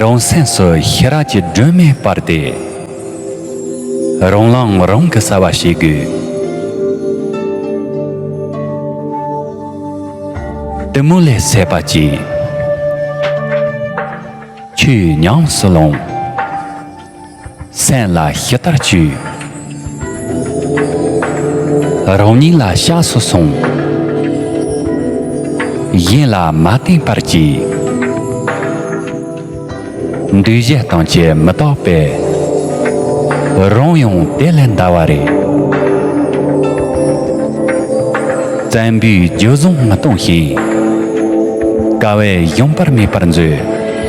རང་སེམས་སུ་ཤེས་རབ་ཀྱི་སྒྲོན་མེ་སྤར་ཏེ། རང་ལངས་རང་གི་གསལ་བ་བྱེད་དགོས། གཏི་མུག་ལས་སད་པ་ཅན། ཆོས་ཉམས་སུ་བླངས། སེམས་ལ་ཞི་དར་བཅོས། རང་ཉིད་ལ་བཤགས་སུ་སོང། གཞན་ལ་མ་བསྟན་པར་གྱིས། འདུས་བྱས་སྟོང་ཆད་མི་རྟོག་པས། རང་ཡང་དེ་ལས་འདའ་བ་རེད། བཙན་པོའི་རྒྱུད་བཟང་མི་གཏོང་ཞིང། དཀའ་བས་གཞོམ་པར་མེད་པར་མཛོད།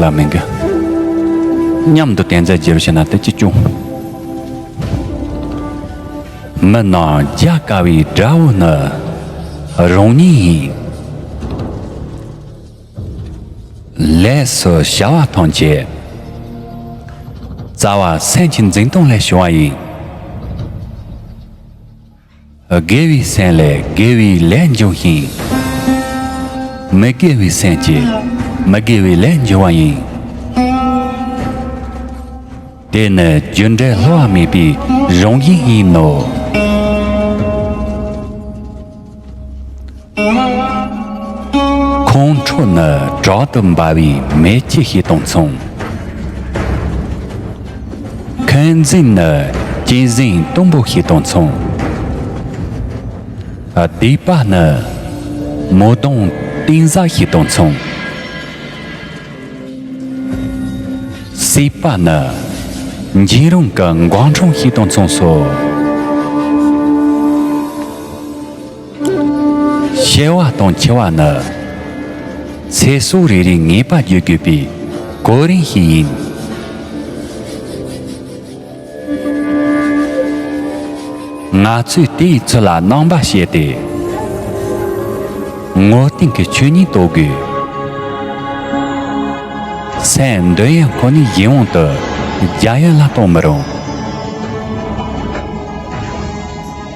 ལ་མི་འགལ། མཉམ་དུ་གཏན་རྫས་བརྗེ་རུ་ཕྱིན་ན་དེ་ཅི་བྱུང། མི་སྣང་རྒྱ་དཀའ་བའི་དགྲ་བོ་ནི་རང་ཉིད་ཡིན། ལས་སུ་བྱ་བ་ཐམས་ཅད་རྩ་བ་སེམས་ཀྱི་འཛིན་སྟངས་ལས་བྱུང་བ་ཡིན། དགེ་བའི་སེམས་ལས་དགེ་བའི་ལས་འབྱུང་ཞིང། མི་དགེ་བའི་སེམས་ཀྱིས་མི་དགེ་བའི་ལས་འབྱུང་བ་ཡིན། དེ་ནི་རྒྱུ་འབྲས་སླུ་བ་མེད་པའི་རང་བཞིན་ཡིན་ནོ། ཁོང་ཁྲོ་ནི་དྲག་ཏུ་འབར་བའི་མེ་ལྕེ་ཞིག་དང་མཚུངས། མཁའ་འཛིན་ནི་སྐྱེས་གཟིངས་གཏུམ་པོ་ཞིག་དང་མཚུངས། སྡིག་པ་ནི་མོ་གདོང་གཏིང་གཟར་ཞིག་དང་མཚུངས། སྲིད་པ་ནི་འཇིགས་རུང་གི་མགོ་འཕྲང་ཞིག་དང་མཚུངས་སོ། བཤད་བ་དང་འཁྱལ་བ་ནི། ཚེ་སྲོག་རེ་རེའི་ངེས་པ་བརྗོད་དགོས་པའི་གོ་རིམ་ཞིག་ཡིན། ང་ཚོས་དེའི་ཚུལ་ལ་སྣང་བ་བྱས་ཏེ། ངོ་གདིང་གི་ཆོས་ཉིད་རྟོགས་དགོས། སེམས་འདོད་ཡོན་ཁོ་ནའི་ཡིད་འོང་དུ་རྒྱ་ཡན་ལ་གཏོང་མི་རུང།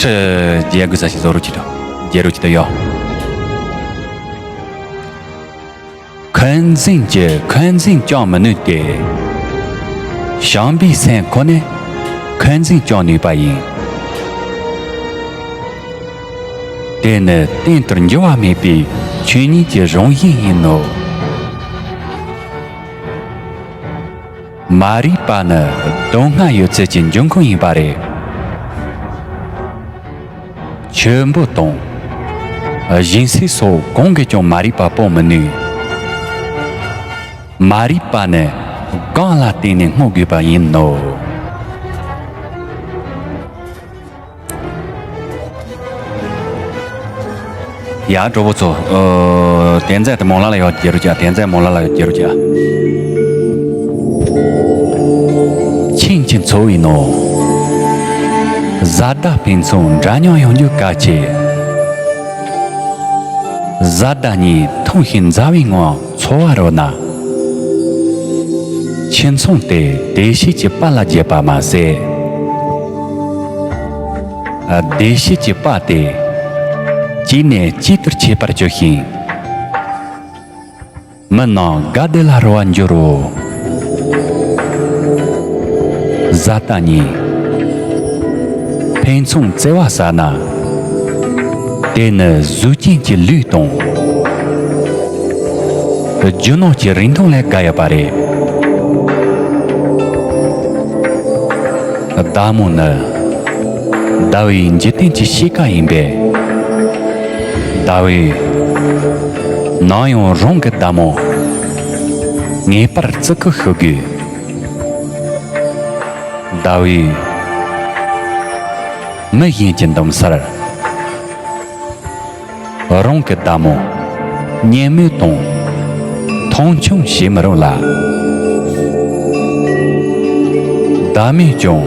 རྒྱལ་རྒུད་ས་ཞིང་བཟོ་རུ་ཁྱི་དང་རྒྱལ་རུ་ཁྱི་དང་ཡོག། འཁོན་འཛིང་གྱི་འཁོན་འཛིང་སྐྱོང་མི་ནུས་ཏེ། ཞང་པའི་སེམས་ཁོ་ནས་འཁོན་འཛིང་སྐྱོང་ནུས་པ་ཡིན། དེ་ནི་གཏན་དུ་འགྱུར་བ་མེད་པའི་ཆོས་ཉིད་ཀྱི་རང་བཞིན་ཡིན་ནོ། མ་རིག་པ་ནི་དོན་སྔ་ཡོད་ཚད་ཀྱི་འབྱུང་ཁུངས་ཡིན་པ་རེད། ཆུ་འབུ་དང། གཞན་སྲིད་སོགས་གང་གིས་ཀྱང་མ་རིག་པ་སྤོང་མི་ནུས། མ་རིག་པ་ནི་རྐང་ལ་བརྟེན་ནས་སྔོག་དགོས་པ་ཡིན་ནོ། ཡ་འགྲོ་བོ་ཚོ་དེ་འཛད་དེ་མོང་ལ་ལ་ཡོད་རྒྱལ་རུ་ཇ་དེ་འཛད་མོང་ལ་ལ་ཡོད་རྒྱལ་རུ་ཇ་ཆིང་ཆིང་འཚོ་བའི་ནོ་བཟའ་ཟླ་ཕན་ཚུན་འདྲ་མཉམ་ཡོང་རྒྱུ་གལ་ཆེ་བཟའ་ཟླ་གཉིས་ཐུང་ཞིང་མཛའ་བའི་ངང་འཚོ་བ་རོལ་ན། ཁྱིམ་ཚང་དེ་བདེ་སྐྱིད་ཀྱི་པ་ལ་བརྒྱབ་པ་མ་ཟད། བདེ་སྐྱིད་ཀྱི་པ་དེ་གཅིག་ནས་གཅིག་ཏུ་མཆེད་པར་གྱུར་ཞིང། མི་རྣམས་དགའ་བདེ་ལ་རོལ་བར་འགྱུར་རོ། བཟའ་ཟླ་གཉིས། ཕན་ཚུན་བརྩེ་བ་ཟ་ན། དེ་ནི་གཟུགས་ཅན་གྱི་ལུས་དང། རྒྱུ་ནོར་གྱི་རིན་ཐང་ལས་དགའ་ཡོད་པ་རེད། བདག་མོ་ནི། ཟླ་བའི་འཇིག་རྟེན་གྱི་གཤིས་ཀ་ཡིན་པས། ཟླ་བས། ནང་ཡང་རང་གི་བདག་མོ། ངེས་པར་བརྩི་བཀུར་ཞུ་དགོས། ཟླ་འོད། མི་གཞན་གྱི་འདུམ་སར། རང་གི་བདག་མོ། གཉེན་མོ་དང། མཐོང་ཆུང་བྱེད་མི་རུང་ལ། བདག་མེད་ཀྱང།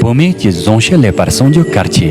བུད་མེད་ཀྱི་གཟུངས་བཤད་ལེགས་པར་གསུངས་རྒྱུ་གལ་ཆེ།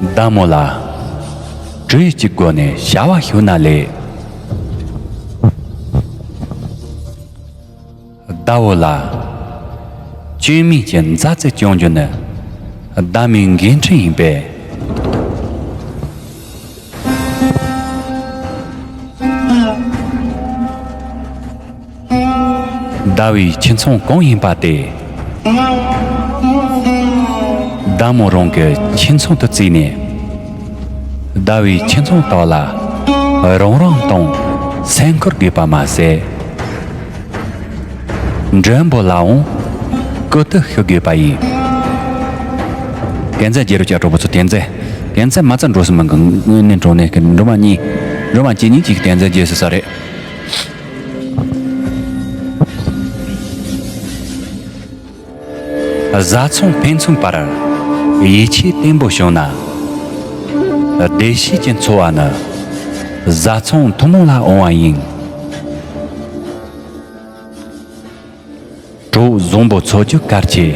བདག་མོ་ལ། བྲུ་ཡིག་གི་སྒོ་ནས་བྱ་བ་ཞུ་ན་ལེགས། བདག་བོ་ལ། བཅོས་མིན་གྱི་མཛའ་བརྩེ་སྐྱོང་རྒྱུ་ནི། བདག་མོའི་འགན་འཁྲི་ཡིན་པས། ཟླ་བའི་ཁྱི་མཚོན་གང་ཡིན་པ་དེ། ཟླ་མོ་རང་གི་ཁྱི་མཚོན་དུ་བརྩིས་ནས། ཟླ་བའི་ཁྱི་མཚོན་དག་ལ་རང་རང་དང་སེམས་ཁུར་དགོས་པ་མ་ཟད། མགྲོན་པོ་ལའང་སྐུ་དུག་ཤོད་དགོས་པ་ཡིན། གན་རྩེ་རྒྱལ་རོལ་བཅའ་གྲོགས་པོ་ཚོ་གན་རྩེ། གན་རྩེ་མ་རྩ་འགྲོ་སྲིད་མིན་གྱི་དངོས་གནས་འགྲོ་གནས་ཀྱི་འགྲོ་མ་གཉིས། འགྲོ་མ་གཅིག་གཉིས་གཅིག་གི་གན་རྩེ་རྒྱས་སྲིད་ས་རེད། བཟའ་ཚང་ཕན་ཚུན་བར་ཡིད་ཆེས་བརྟན་པོ་བྱུང་ན། བདེ་སྐྱིད་ཀྱི་འཚོ་བ་ནི་བཟའ་ཚང་ཐུན་མོང་ལ་འོང་བ་ཡིན། དྲུག་བཟང་པོ་ཚོགས་རྒྱུ་སྐར་གྱི་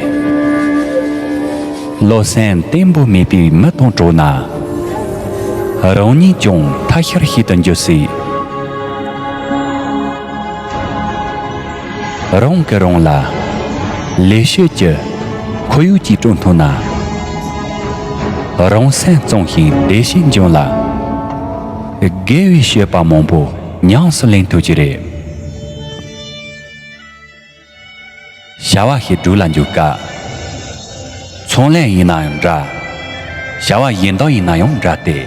བློ། སེམས་བརྟན་པོ་མེད་པའི་མི་དང་གྲོགས་ན། རང་ཉིད་ཀྱང་ཐ་ཤལ་ཤེས་དུ་འགྱུར་སྲིད། རང་གིས་རང་ལ་ལས་བྱེད་ཀྱི་ཁོར་ཡུག་ཅིག་བསྐྲུན་ཐུབ་ན། རང་སེམས་གཙང་ཞིང་བདེ་ཞིང་འབྱོན་ལ། དགེ་བའི་བཤད་པ་མང་པོ་ཉམས་སུ་ལེན་ཐུབ་ཀྱི་རེད། བྱ་བ་ཞིག་སྒྲུབ་ལ་འཇུག་སྐབས། ཚོང་ལས་ཡིན་ན་ཡང་འདྲ། བྱ་བ་གཞན་དག་ཡིན་ན་ཡང་འདྲ་སྟེ།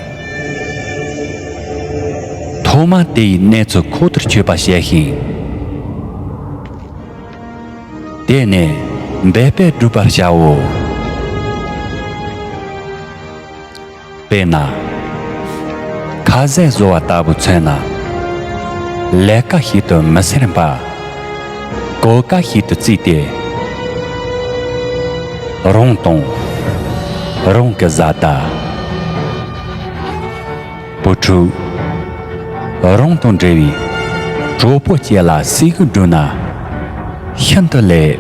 ཐོག་མར་དེ་ཡི་གནས་ཚུལ་ཁོག་ལྟར་ཆོད་པ་བྱས་ཤིང། དེ་ནས་འབད་པས་སྒྲུབ་པར་བྱའོ། དཔེར་ན། ཁ་ཟས་བཟོ་བ་ལྟ་བུ་མཚོན་ན། ལས་ཀ་ཞིག་ཏུ་མི་ཟེར་འབའ། གོ་བཀའ་ཞིག་ཏུ་བརྩིས་ཏེ། རུང་དང། རུང་གི་བཟའ་ཟླ། བུ་ཕྲུག། རུང་དང་འབྲེལ་བའི་གྲོགས་པོ་བཅས་ལ་གཟིགས་སྐུལ་བསྒྲུབས་ན། ཤིན་ཏུ་ལེགས།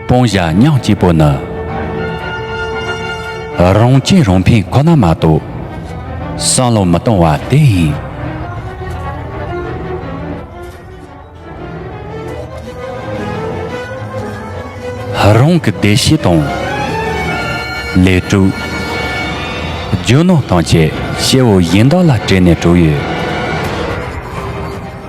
སྤུང་བཞག་སྙིང་སྐྱིད་པོ་ནི། རང་སྐྱིད་རང་ཕན་ཁོ་ན་མ་གཏོགས། སང་ལོ་མི་གཏོང་བ་དེ་ཡིན། རང་གི་བདེ་སྐྱིད་དང། ལས་དྲུག། རྒྱུ་ནོར་དང་བཅས་སྐྱེ་བོ་གཞན་དག་ལ་སྤྲད་ནས་དྲུག་ཡོད།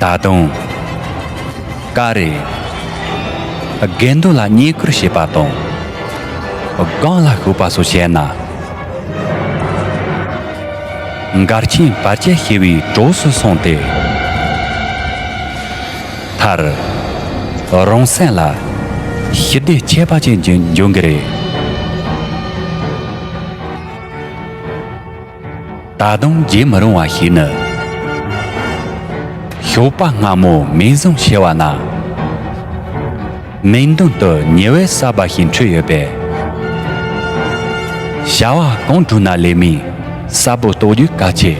ད་དུང། ཀ་རེ། དགེ་འདུན་ལ་བསྙེན་བཀུར་བྱེད་པ་དང། སྒང་ལ་ཞུགས་པ་སོགས་བྱས་ན། མགར་ཆེན་བར་ཆད་ཞི་བའི་གྲོགས་སུ་སོང་སྟེ། མཐར། རང་སེམས་ལ་ཞི་བདེའི་ཁྱད་པར་ཅན་འབྱུང་གི་རེད། ད་དུང་བརྗེད་མི་རུང་བ་ཞིག་ནི། ཞོགས་པ་སྔ་མོ་མེ་བཟུང་ཤི་བ་ན། མིག་མདུན་དུ་ཉི་འོད་གསར་པ་ཞིག་འཕྲོས་ཡོད་པས། བྱ་བ་གང་བསྒྲུབ་ན་ལས་མིའི་གསར་བུ་རྟོགས་རྒྱུ་གལ་ཆེ།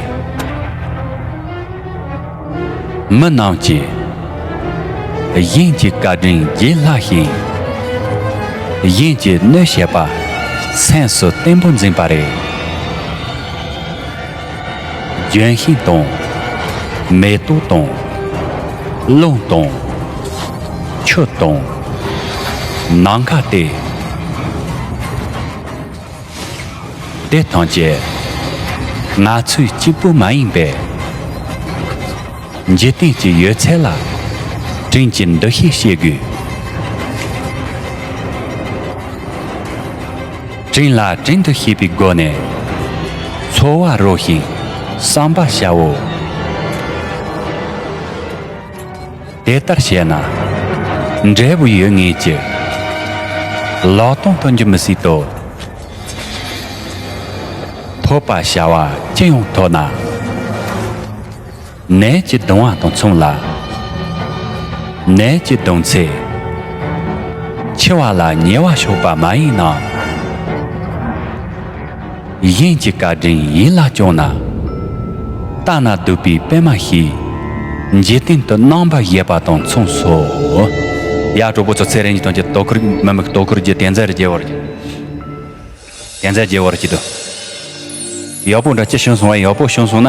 མི་རྣམས་ཀྱི། གཞན་གྱི་བཀའ་དྲིན་བརྗེད་སླ་ཞིང། གཞན་གྱི་གནོད་བྱེད་པ། སེམས་སུ་བརྟན་པོ་འཛིན་པ་རེད། ལྗོན་ཤིང་དང། མེ་ཏོག་དང། རླུང་དང། ཆུ་དང། ནམ་མཁའ་སྟེ། དེ་དང་བཅས། ང་ཚོས་གཅིག་པུ་མ་ཡིན་པས། འཇིག་རྟེན་གྱི་ཡོད་ཚད་ལ། དྲིན་གྱི་འདུ་ཤེས་བསྐྱེད་དགོས། དྲིན་ལ་དྲིན་དུ་ཤེས་པའི་སྒོ་ནས། འཚོ་བ་རོལ་ཞིང་བསམ་པ་བྱའོ། དེ་ལྟར་བྱས་ན། འབྲས་བུ་ཡོད་ངེས་ཀྱི། ལོག་ལྟུང་སྟོན་རྒྱུ་མི་སྲིད་དོ། ཐོབ་པ་བྱ་བ་ཅི་ཡང་ཐོགས་ན། ནད་ཀྱི་གདུང་བ་དང་མཚུངས་ལ། ནད་ཀྱི་གདུང་ཚེ། འཆི་བ་ལ་ཉེ་བ་ཕྱོགས་པ་མ་ཡིན་ནམ། གཞན་གྱི་བཀའ་དྲིན་ཡིད་ལ་བཅངས་ན། ལྟ་ན་སྡུག་པའི་པད་མ་ཞིག། འཇིག་རྟེན་དུ་སྣང་བར་བཞེད་པ་དང་མཚུངས་སོ། ཡ་གྲོགས་པོ་ཚོ་ཚེ་རིང་གི་དོན་གྱི་དོ་ཁུར་མི་དམིགས་དོ་ཁུར་གྱི་རྟེན་རྫས་རུ་བརྗེ་བར་བྱེད། རྟེན་རྫས་བརྗེ་བར་བྱེད་དོ། ཡག་པོ་འདྲ་ཅི་བྱུང་སོང་བས་ཡག་པོ་བྱུང་སོང་ན།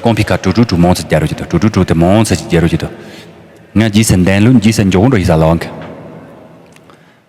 ཀོང་ཕི་ཁ་དྲུག་དྲུག་དྲུག་མང་ཚད་བརྒྱ་རུ་བྱེད་དོ་དྲུག་དྲུག་དྲུག་དེ་མང་ཚད་ཀྱི་བརྒྱ་རུ་བྱེད་དོ། ང་རྗེས་སུ་འདན་ལུག་རྗེས་སུ་འཇོག་འགྲོ་ཞིག་ཟ་ལ་ཨང།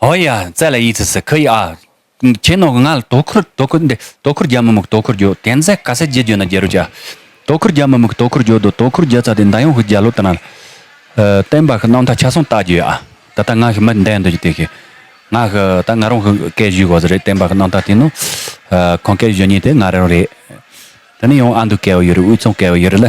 ཧོ་ཡ། ཙལ་ཡི་ཙི་སི་ཁི་ཡི་ཨ། ཁྱེད་ནོ་ང་ལ་དོ་ཁུར་དོ་ཁུར་འདི་དོ་ཁུར་རྒྱ་མི་མུག་དོ་ཁུར་རྒྱོ་དེ་མཛད་ག་ཟེ་རྗེ་རྒྱོ་ན་རྒྱལ་རོ་རྒྱ། དོ་ཁུར་རྒྱ་མི་མུག་དོ་ཁུར་རྒྱོ་དོ་དོ་ཁུར་རྒྱ་ཙ་དེ་འདའ་ཡོང་ཧི་རྒྱ་ལོ་ཏི་ན། བསྟན་པ་ཧི་ནང་མཐའ་ཆ་སོང་བལྟ་རྒྱོ་ཡ། ད་ལྟ་ང་ཧི་མི་འདའ་འདོད་ཀྱི་དེ་ཧི། ང་ཧི་ད་ང་རང་ཧི་སྐད་བཞུས་གོ་ཟེ་རེད་བསྟན་པ་ཧི་ནང་མཐའ་དེ་ནོ། ཁོང་སྐད་བཞུས་ཉིན་དེ་ང་རང་རེད། དེ་ནི་ཡང་ཨ་འདུ་སྐད་བ་ཡོད་རེད་དབུས་ཚང་སྐད་བ་ཡོད་རེད་ལ།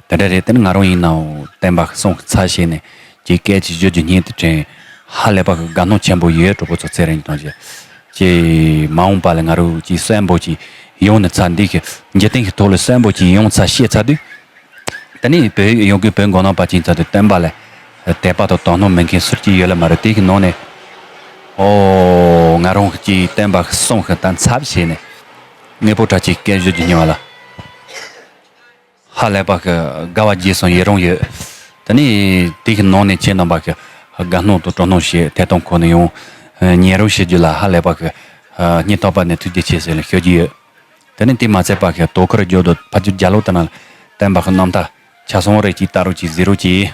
དེ་འདྲ་རེད་དེ་ནི་ང་རང་ཡིན་ནའོ་བསྟན་པ་སྲོང་གི་ཚར་བྱས་ནས་ཀྱི་སྐད་ཅིག་བརྗོད་རྒྱུ་སྙིང་དུ་དྲན། ཧ་ལས་པ་གི་དགའ་སྣང་ཆེན་པོ་ཡོད་གྲོགས་པོ་ཚོ་ཚེ་རིང་དང་བཅས། ཀྱི་མ་འོངས་པ་ལ་ང་རོ་ཀྱི་གསོན་པོ་ཅིག་ཡོང་ནས་ཚ་འདི་གི་འཇིག་རྟེན་གི་ཐོག་ལ་གསོན་པོ་ཅིག་ཡོང་ཚ་ཤེས་ཚ་དུས། དེ་ནི་བོད་ཡིག་ཡོང་གི་བོད་མགོ་ནང་པ་ཅིག་ཚ་དུས་བསྟན་པ་ལ་དད་པ་དང་དོ་སྣང་མེད་མཁན་ཟུར་གྱི་ཡོད་ལ་མ་རེད་དེ་གི་ནང་ནས་ཨོ། ང་རང་ཀྱི་བསྟན་པ་སྲོང་གི་ད་ཚར་བྱས་ནས་གནས་པོ་གྲགས་ཀྱི་སྐད་བརྗོད་རྒྱུ་སྙིང་བ་ལ། ཧ་ལས་པ་གི་དགའ་བ་རྗེས་སུ་ཡི་རང་ཡོད། དེ་ནས་དེ་གི་ནང་ནས་ཁྱེད་རྣམས་པ་གི་དགའ་སྣང་དང་སྤྲོ་སྣང་ཞིག་ཐད་གཏོང་ཁོ་ནས་ཡང་ཉན་རོགས་ཞེས་རྒྱུ་ལ་ཧ་ལས་པ་གི་སྙིང་ཐག་པ་ནས་ཐུགས་རྗེ་ཆེ་ཟེར་ནས་ཤོད་རྒྱུ་ཡོད། དེ་ནས་དེ་མ་ཚད་པ་གི་དོ་ཁུར་རྒྱོ་དང་ཕ་རྒྱུ་རྒྱ་ལོ་ལྟ་ན་བསྟན་པ་གི་རྣམ་ཐག་ཆ་སོང་རེ་གཅིག་བལྟ་རོགས་གཅིག་གཟིགས་རོགས་གཅིག།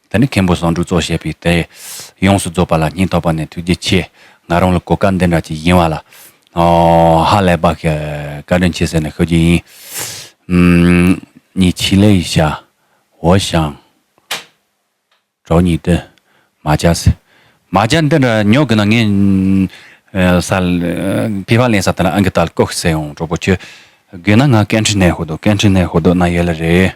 ད་ནི་མཁན་པོ་བཟང་དྲུག་གཙོ་བྱས་པའི་དེ། ཡོངས་སུ་རྫོགས་པ་ལ་སྙིང་ཐག་པ་ནས་ཐུགས་རྗེ་ཆེ། ང་རང་ལ་གོ་སྐབས་འདི་འདྲ་ཅིག་ཡིན་བ་ལ། ཧ་ལས་པ། བཀའ་དྲིན་ཆེ་ཟེར་ནས་ཤོད་རྒྱུ་ཡིན། ཉིད་ཕྱི་ལའི་ཤ། འོ་ཞང། གྲོགས་ཉིད་དུ། མ་བྱ་ཟེར། མ་བྱ་འདི་འདྲ་ཉོ་གི་ན་ངས། སལ། ཕེ་བ་ལེན་ས་དེ་ན་ཨང་ཀི་ཏལ་ཀོག་ཟེར་ཡོང་གྲོགས་པོ་ཁྱོད། དགོས་ན་ང་ཀན་ཁྲི་ནས་ཧོ་དོ་ཀན་ཁྲི་ནས་ཧོ་དོ་ན་ཡོད་ལ་རེད།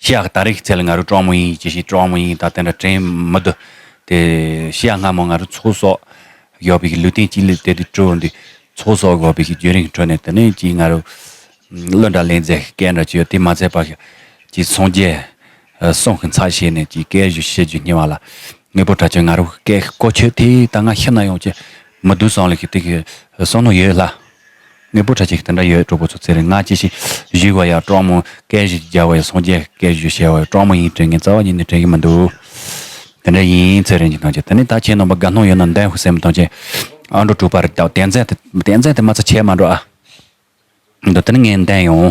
ཤི་ཡག་ད་རེག་ཚལ་ང་རུ་ཀྲོང་མོ་ཡིན་ཅི་ཞིག་ཀྲོང་མོ་ཡིན་ད་དེ་འདྲ་དྲན་མི་འདུག་དེ་ཤི་ཡག་སྔ་མོ་ང་རུ་ཚོགས་སོག་ཡོག་པིག་གི་ལུས་སྟེང་སྤྱི་ལེ་དེ་དུ་དྲུག་འདུག་ཚོགས་སོག་གོ་པིག་གི་རྒྱུན་རིང་ཁྲོད་ནས་དེ་ནས་ཀྱིས་ང་རུ་གླུ་འདྲ་ལེན་རྫས་སྐད་འདྲ་ཅི་ཡོད་དེ་མ་ཚད་པར་ཀྱིས་སངས་རྒྱས་གསུང་གི་མཚག་བྱས་ནས་ཀྱིས་སྐད་བཞུ་བཤད་རྒྱུ་སྙན་བ་ལ་དངོས་པོ་འདྲ་ཅི་ང་རུ་སྐད་གོ་ཆོད་དེ་ད་ང་ཤི་ན་ཡོང་ཅི་མི་སྡུག་སང་ལ་ཀྱིས་དེ་གི་གསང་ནོར་ཡོད་ལ། ངའི་བུ་ཁྲ་ཆེན་ཞིག་དེ་འདྲ་ཡོད་གྲོགས་པོ་ཚོ་ཚེ་རིང་སྔགས་ཅི་ཞིག་བཞུགས་བ་ཡག་གྲོགས་མོ་སྐད་བཞི་རྒྱག་བ་ཡག་སངས་རྒྱས་ཀྱི་སྐད་བཞི་བཤད་བ་ཡག་གྲོགས་མོ་ཡིན་དྲན་མཁན་རྩ་བ་ཉིད་ནས་དྲན་གྱི་མི་འདུག་དེ་འདྲ་ཡིན་ཚེ་རིང་གིས་གནང་བྱས་དེ་ནས་ད་ཁྱེད་ནང་པ་དགའ་སྣང་ཡོད་ན་འདན་ཧུ་སེན་མོ་གཏང་བྱས་ཨ་འགྲོ་དྲུག་པ་རེད་དའོ་བསྟན་འཛིན་བསྟན་འཛིན་དེ་མ་ཚ་ཆད་མ་འགྲོ་ཨ། འདི་དེ་ནས་ངས་འདན་ཡོང།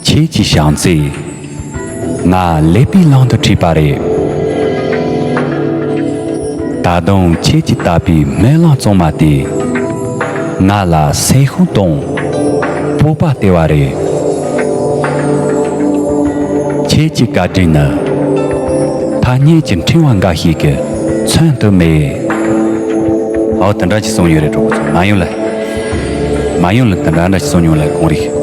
ཁྱེད་ཀྱི་བྱམས་བརྩེས། ང་ཀླད་པའི་གླང་དུ་ཁྲིད་པ་རེད། ད་དུང་ཁྱེད་ཀྱི་ལྟ་བའི་སྨོན་ལམ་བཙོང་མ་དེས། ང་ལ་སེམས་ཤུགས་དང་སྤོབས་པ་སྟེར་བ་རེད། ཁྱེད་ཀྱི་བཀའ་དྲིན་ནི། ཐ་སྙད་ཀྱི་འཕྲེང་བ་འགའ་ཞིག་གིས་མཚོན་དུ་མེད། འོ་དེ་འདྲ་ཞིག་གསུངས་ཡོད་རེད་གྲོགས་པོ་ཚོ། མ་ཡོང་ལ། མ་ཡོང་ལ་དེ་འདྲ་འདྲ་ཞིག་གསུངས་མྱོང་ལ་གང་རེད།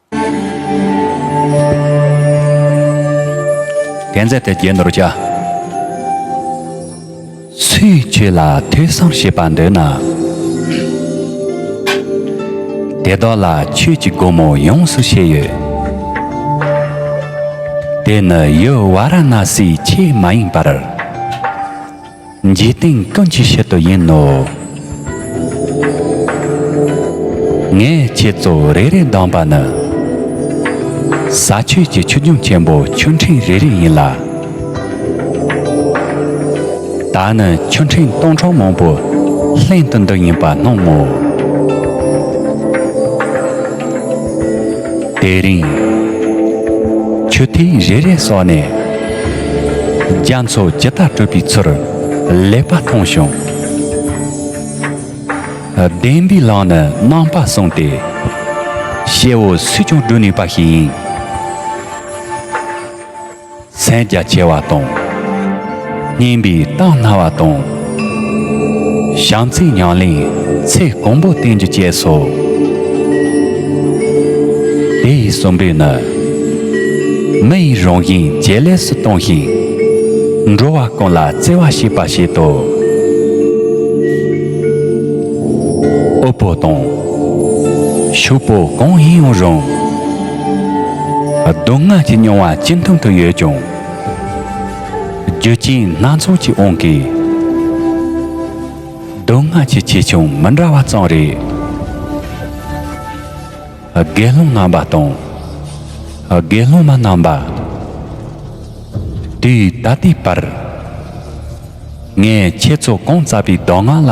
རྒྱན་མཛད་དེ་རྒྱན་ནོར་བྱ། ཚུལ་འཆོས་ལ་ཐོས་བསམ་བྱེད་པར་འདོད་ན། དེ་དག་ལ་ཆོས་ཀྱི་སྒོ་མོ་ཡོངས་སུ་ཕྱེ་ཡོད་དེ། དེ་ནི་ཡུལ་བ་ར་ན་སིའི་ཆོས་མ་ཡིན་པར། འཇིག་རྟེན་ཀུན་གྱི་ཕྱིར་དུ་ཡིན་ནོ། ངས་ཁྱེད་ཚོ་རེ་རེ་བདམས་པ་ནི། ས་ཆོས་ཀྱི་ཆོས་འབྱུང་ཆེན་པོ་ཆོས་འཕྲིན་རེ་རེ་ཡིན་ལ། ད་ནི་ཆོས་འཕྲིན་སྟོང་ཕྲག་མང་པོའི་ལྷན་དུ་འདི་ཡིན་པར་སྣང་ངོ། དེ་རིང་ཆུ་ཐིགས་རེ་རེ་སོགས་ནས་རྒྱ་མཚོ་ཇི་ལྟར་བཀྲུས་པའི་ཚུར་ལེགས་པ་མཐོང་བྱུང། བདེན་པའི་ལམ་ནི་རྣམ་པར་བཟུང་སྟེ། གཤེ་བོ་སུས་ཀྱང་བསྒྲུབ་ནུས་པ་ཞིག་ཡིན། མཚན་རྒྱ་ཆེ་བ་དང། སྙན་པའི་གཏམ་སྣ་བ་དང། བྱམས་བརྩེའི་ཉམས་ལེན་ཚེ་གང་པོ་བསྟན་རྒྱུ་བཅས་སོ། དེ་ཡི་གསུམ་པོས་ནི། མི་ཡི་རང་བཞིན་ཇེ་ལེགས་སུ་གཏོང་ཞིང། འགྲོ་བ་ཀུན་ལ་བརྩེ་བ་བྱེད་པར་བྱེད་དོ། དབུལ་པོ་དང། ཕྱུག་པོ་གང་ཡིན་ཡང་རུང། སྡུག་བསྔལ་གྱི་མྱོང་བ་ཅི་འཐུང་དུ་ཡོད་ཀྱང། རྒྱུ་རྐྱེན་སྣ་ཚོགས་ཀྱིས་འོང་གི། སྡུག་བསྔལ་གྱི་ཆེ་ཆུང་མི་འདྲ་བ་ཙམ་རེད། དགེ་སློང་ངན་པ་དང། དགེ་སློང་མ་རྣམས་པ། དུས་ད་ལྟའི་བར། ངས་ཁྱེད་ཚོ་གང་བཙལ་པའི་གདམས་ངག་ལ།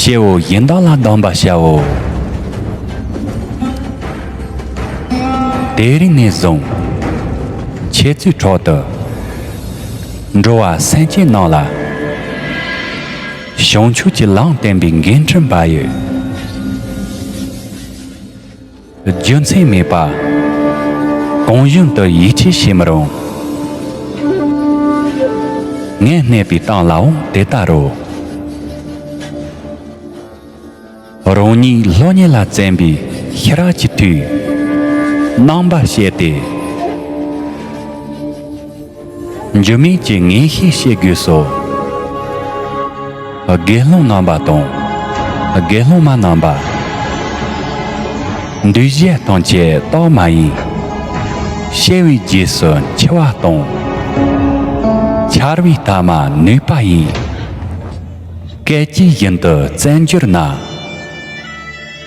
ཤེའོ་གཞན་དག་ལ་སྡང་བར་བྱའོ། དེའི་རིང་ནས་བཟུང། ཁྱེད་ཚོའི་ཁྲོད་དུ། འགྲོ་བ་སེམས་ཅན་རྣམས་ལ། བྱང་ཆུབ་ཀྱི་ལམ་བསྟན་པའི་འགན་འཁྲི་འབའ་ཡོད། རྒྱུ་མཚན་མེད་པ། གང་བཞིན་དུ་ཡིད་ཆེས་བྱེད་མི་རུང། ངས་གནས་པའི་སྟངས་ལའང་དེ་ལྟར་རོ། རང་ཉིད་ལྷོད་གཉེར་ལ་བཙན་པའི་ཤི་རག་གི་དུས། རྣམ་པར་བཤད་དེ། འགྱུར་མེད་ཀྱི་ངེས་ཤེས་བཤད་དགོས་སོ། དགེ་སློང་རྣམ་པ་དང། དགེ་སློང་མ་རྣམ་པ། འདུས་བྱས་ཐམས་ཅད་རྟག་མ་ཡིན། ཤེས་བའི་རྗེས་སུ་འཆི་བ་དང། འཆར་བའི་ཐ་མ་ནུས་པ་ཡིན། སྐད་ཅིག་བཞིན་དུ་བཙལ་འགྱུར་ན།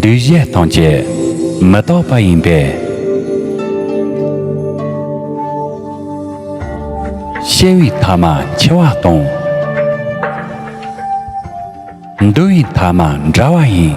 འདུས་བྱས་སྟོང་སྐྱེ་མི་རྟོག་པ་ཡིན་པས། སྐྱེ་བའི་མཐའ་མ་འཆི་བ་སྟོང། འདུ་བའི་མཐའ་མ་འདྲ་བ་ཡིན།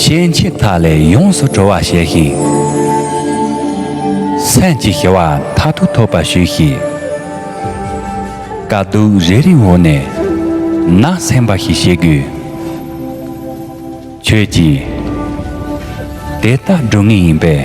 ཤེས་མཆེད་དག་ལས་ཡོངས་སུ་གྲོལ་བར་བྱས་ཤིང། སེམས་ཀྱི་ཞི་བ་མཐར་ཐུག་ཐོབ་པར་ཞུས་ཤིག། དཀའ་སྡུག་རེ་རེའི་འོག་ནས་ནང་སེམས་འབའ་ཞིག་ཤེས་དགོས། ཁྱོད་ཀྱིས་དེ་ལྟར་སྒྲུབ་ངེས་ཡིན་པས།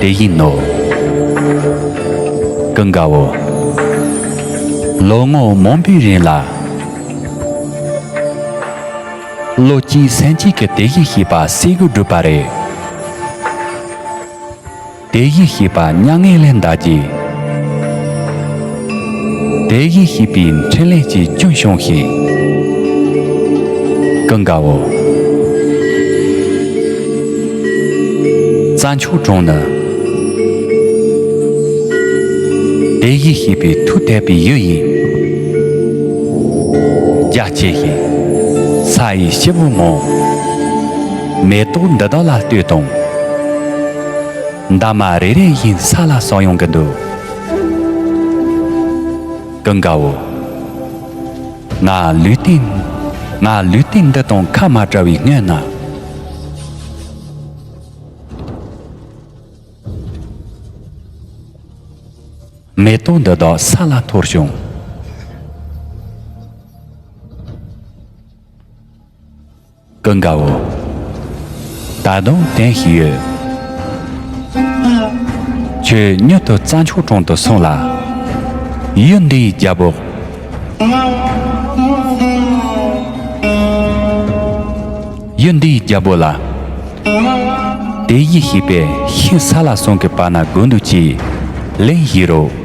དེ་ཡིན་ནོ། ཀུན་དགའ་བོ། ལོ་ངོ་མང་པོའི་རིང་ལ། བློ་གཅིག་སེམས་གཅིག་གིས་དེ་ཡིག་ཤེས་པ་སེ་གོལ་བསྒྲུབས་པ་རེད། དེ་ཡིག་ཤེས་པ་མྱ་ངན་ལས་འདའ་རྗེས། དེའི་ཡེ་ཤེས་པའི་འཕྲིན་ལས་ཀྱིས་སྐྱོན་ཤོང་ཞིང། ཀུན་དགའ་བོ། རྩྭ་མཆོག་དྲུང་ནི། དེའི་ཡེ་ཤེས་པའི་མཐུ་དད་པའི་ཡུལ་ཡིན། རྒྱ་བསྐྱེད་ཞིང། ས་ཡི་སྐྱེ་བོ་མོ། མེ་ཏོག་འདི་དག་ལ་ལྟོས་དང། འདབ་མ་རེ་རེ་བཞིན་ས་ལ་སོགས་ཡོང་གི་འདུག། ཀུན་དགའ་བོ། ང་ལུས་རྟེན། ང་ལུས་རྟེན་འདི་དང་ཁ་མ་བྲལ་བའི་སྔོན་ན། མེ་ཏོག་འདི་དག་ས་ལ་འཐོར་བྱུང། ཀུན་དགའ་བོ། ད་དུང་དེང་ཞིག་ཡོད། ཁྱོད་མྱུར་དུ་རྩྭ་མཆོག་དྲུང་དུ་སོང་ལ། ཡུལ་འདིའི་རྒྱལ་པོ། ཡུལ་འདིའི་རྒྱལ་པོ་ལ། དེ་ཡིས་ཤིག་པའི་ཤིང་ས་ལ་སོང་གི་བར་ན་དགོས་འདུག་ཅེས་ལན་ཞུས་རོགས།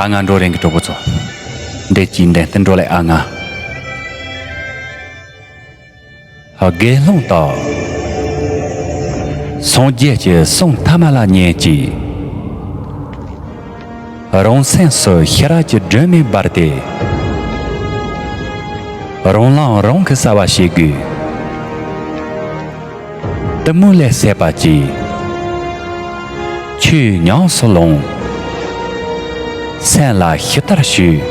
ཨ་ང་འགྲོ་རིང་གི་གྲོགས་པོ་ཚོ་འདས་ཀྱིས་འདས་བསྟུན་འགྲོ་ལེ་ཨ་ང། དགེ་སློང་དག། སངས་རྒྱས་ཀྱི་གསུང་མཐའ་མ་ལ་ཉན་ཅིག། རང་སེམས་སུ་ཤེས་རབ་ཀྱི་སྒྲོན་མེ་སྦར་ཏེ། རང་ལངས་རང་གི་གསལ་བ་ཤེས་དགོས། གཏི་མུག་ལས་སད་པ་གཅིག། ཆོས་ཉམས་སུ་ལོངས། སེམས་ལ་ཞི་ལྟར་ཞུགས།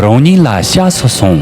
རང་ཉིད་ལ་ཤ་སུ་སོང།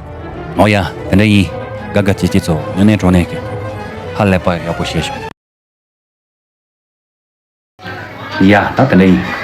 ཨོ་ཡ། དེ་འདྲ་ཡིན། དགའ་དགའ་སྐྱིད་སྐྱིད་ཚོ་སྨྱོ་ནད་གྲོ་ནད་ཀྱི། ཧ་ལས་པ་ཡག་པོ་བཤད་བྱུང། ཡ། ད་དེ་འདྲ་ཡིན།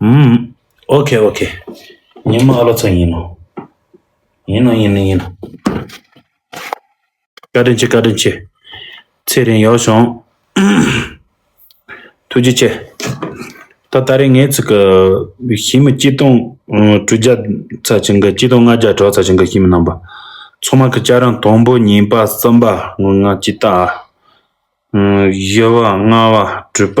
ཧུམ། ཨོ་ཁེ་ཨོ་ཁེ། ཉི་མ་ཨ་ལོ་ཚང་ཡིན་ནོ། ཡིན་ནོ་ཡིན་ནོ་ཡིན་ནོ། བཀའ་དྲིན་ཆེ་བཀའ་དྲིན་ཆེ། ཚེ་རིང་ཡོག་བྱུང། ཐུགས་རྗེ་ཆེ། ད་ལྟ་རེ་ངའི་ཚིག་གི་གཞི་མི་སྐྱིད་སྟོང་དྲུག་བརྒྱ་རྩ་ཆེན་གི་སྐྱིད་སྟོང་ལྔ་བརྒྱ་གྲོགས་རྩ་ཆེན་གི་གཞི་མི་རྣམ་པ། ཚོགས་མང་གི་སྐྱ་རང་དང་པོ་ཉིན་པ་གསུམ་པ་ངུ་ངག་སྐྱིད་རྟགས། བཞི་བ་ལྔ་བ་དྲུག་པ།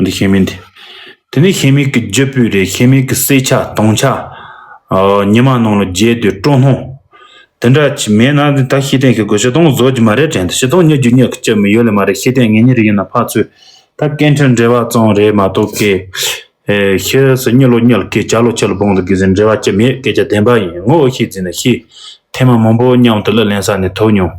འདི་ཤེས་མིན་ཏེ། དེ་ནས་ཤེས་མིག་གི་རྒྱུ་སྤུས་རེད་ཤེས་མིག་གི་བསྲེས་ཆ་དྭངས་ཆ། ཉི་མ་ནང་ལ་བརྒྱད་དུས་སྤྲོ་སྣང། དེ་འདྲ་ཅིག་མེད་ན་ད་ཤེས་ལྡན་གྱི་གོས་ཤེས་ལྡོང་བཟོ་རྒྱུ་མ་རེད་དྲན་ཏེ་ཤེས་ལྡོང་ཉོ་རྒྱུ་ཉག་གི་ལྕི་མི་ཡོད་ལེ་མ་རེད་ཤེས་ལྡན་ངེད་གཉིས་རིགས་ཡིན་ན་ཕག་ཚོས་ད་སྐད་འཕྲིན་འབྲེལ་བ་གཙང་རེད་མ་གཏོགས་སྐད་ཤེས་སུ་གཉིད་ལོག་གཉིད་ལ་སྐད་ཆ་ལོག་ཁྱི་ལ་བོང་དུ་བསྒུལ་ཟིན་འབྲེལ་བ་ལྕི་མེད་སྐད་ཆ་བདེན་པ་ཡིན་ངོ་ཤེས་ཟིན་ན་ཤེས་ལྡན་མ་མང་པོ་མཉམ་དུ་གླུ་ལེན་ས་ནས་ཐོས་མྱོང།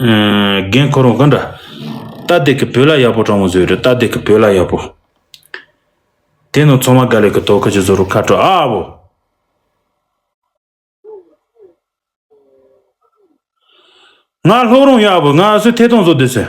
རྒན་འཁོར་བ་གང་འདྲ། རྟ་རྡེག་གི་བུ་ལ་ཡག་པོ་དྲང་བོ་བཟོས་རེད་རྟ་རྡེག་གི་བུ་ལ་ཡག་པོ། དེ་ནོར་ཚོང་མ་དགའ་ལེགས་ཀྱི་དོ་ཁུ་ཅིག་བཟོ་རུ་ཁ་དྲོ་ཨ་བོ། ང་ལྷོ་རོང་ཡག་པོ་ང་སུ་ཐེ་ཐོང་བཟོ་འདོད་ཟེར།